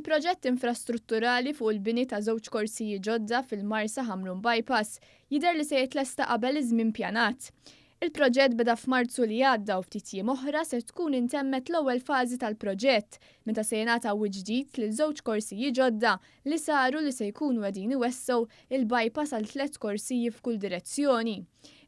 Il-proġett infrastrutturali fuq il-bini ta' żewġ korsiji ġodda fil-Marsa Ħamrun Bypass jidher li se jitlesta qabel iż-żmien pjanat. Il-proġett beda f'Marzu li għadda u ftit jiem oħra se tkun intemmet l-ewwel fażi tal-proġett meta se jingħata wiċċ ġdid lil żewġ korsiji ġodda li saru li se jkunu qegħdin iwessgħu l-bypass għal tliet korsiji f'kull direzzjoni.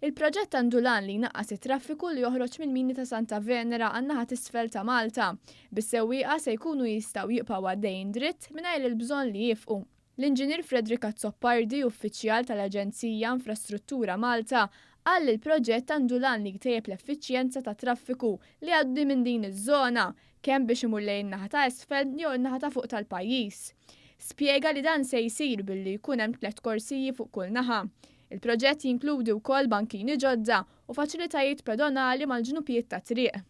Il-proġett għandu l-għan li jnaqqas it-traffiku li joħroġ mill-mini ta' Santa Venera għan-naħa t'isfel ta' Malta, bis-sewwieqa se jkunu jistgħu jibqgħu għaddejjin dritt mingħajr il-bżonn li jiefqu. L-Inġinier Frederick Azzopardi, uffiċjal tal-Aġenzija Infrastruttura Malta, qal li l-proġett għandu l-għan li jtejjeb l-effiċjenza tat-traffiku li jgħaddi minn din iż-żona, kemm biex imur lejn in-naħa ta' isfel jew in-naħa ta' fuq tal-pajjiż. Spjega li dan se jsir billi jkun hemm tliet korsiji fuq kull naħa. Il-proġett jinkludi wkoll bankini ġodda u faċilitajiet pedonali mal-ġnupijiet tat-triq.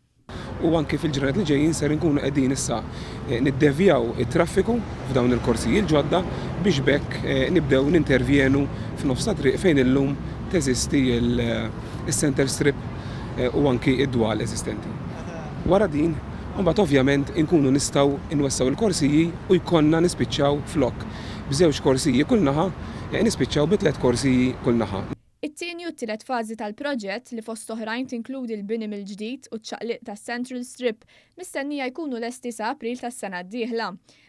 U anki fil-ġranet li ġejjin ser inkunu qegħdin issa niddevjaw it-traffiku f'dawn il-korsiji l-ġodda biex b'hekk nibdew nintervjenu f'nofs ta' triq fejn illum teżisti s-centre strip u anki d-dwal eżistenti. Wara din, imbagħad ovvjament inkunu nistgħu nwessgħu l-korsiji u jkollna nispiċċaw flok b'żewġ korsiji kull naħa, nispiċċaw bi tliet korsiji kull naħa. It-tieni u t-tielet fażi tal-proġett, li fost oħrajn tinkludi l-bini mill-ġdid u ċ-ċaqliq tas-Central Strip, mistennija jkunu lesti sa April tas-sena d-dieħla.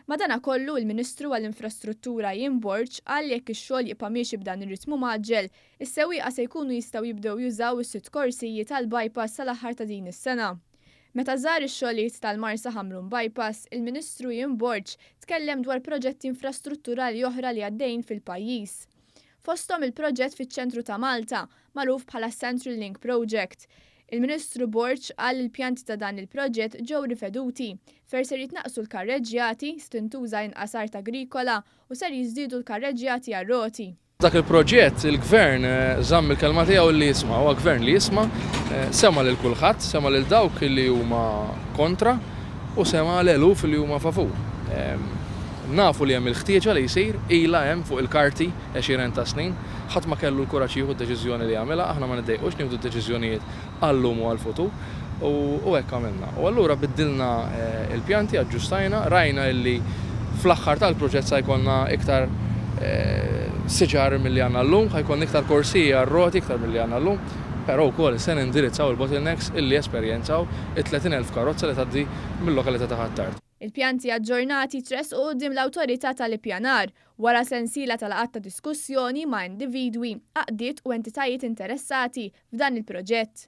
Madanakollu, il-Ministru għall-Infrastruttura Ian Borg qal li jekk ix-xogħol jibqa' miexi b'dan ir-ritmu mgħaġġel, Is-sewwieqa se jkunu jistgħu jibdew jużaw is-sitt korsijiet għall-bypass sal-aħħar ta' din is-sena. Meta żar ix-xogħliet tal-Marsa Ħamrun Bypass, il-Ministru Ian Borg tkellem dwar proġetti infrastrutturali oħra li għaddejjin fil-pajjiż. Fosthom il-proġett fiċ-ċentru ta' Malta, magħruf bħala s-Central Link Project. Il-Ministru Borg qal li l-pjanti ta' dan il-proġett ġew riveduti fer ser jitnaqqsu l-karreġġjati, se tintuża inqas art agrikola u ser jiżdiedu l-karreġġjati għar-roti. Dak il-proġett, il-Gvern żamm il-kelma tiegħu li jisma'. Huwa Gvern li jisma', sema' lil kulħadd, sema' lil dawk li huma kontra u sema' l-eluf li huma favur. Nafu li hemm il-ħtieġa li jsir, ilha hemm fuq il-karti għexieren ta' snin. Ħadd ma kellu l-kuraġġ jieħu d-deċiżjoni li għamilha, aħna ma niddejqux nieħdu d-deċiżjonijiet għal-lum u għall-futur, u hekk għamilna. U allura biddilna l-pjanti, aġġustajna, rajna illi fl-aħħar tal-proġett sa jkollna iktar siġar milli għandna llum, ħa jkollna iktar korsiji għar-roti iktar milli għandna llum, però wkoll se nindirizzaw il-bottlenecks illi esperjenzaw it-30,000 karozza li tgħaddi mil-lokalità ta' Ħ'Attard. Il-pjanti aġġornati jtressqu quddiem l-Awtorità tal-Ippjanar wara sensiela ta' laqgħat ta' diskussjoni ma' individwi, għaqdiet u entitajiet interessati f'dan il-proġett.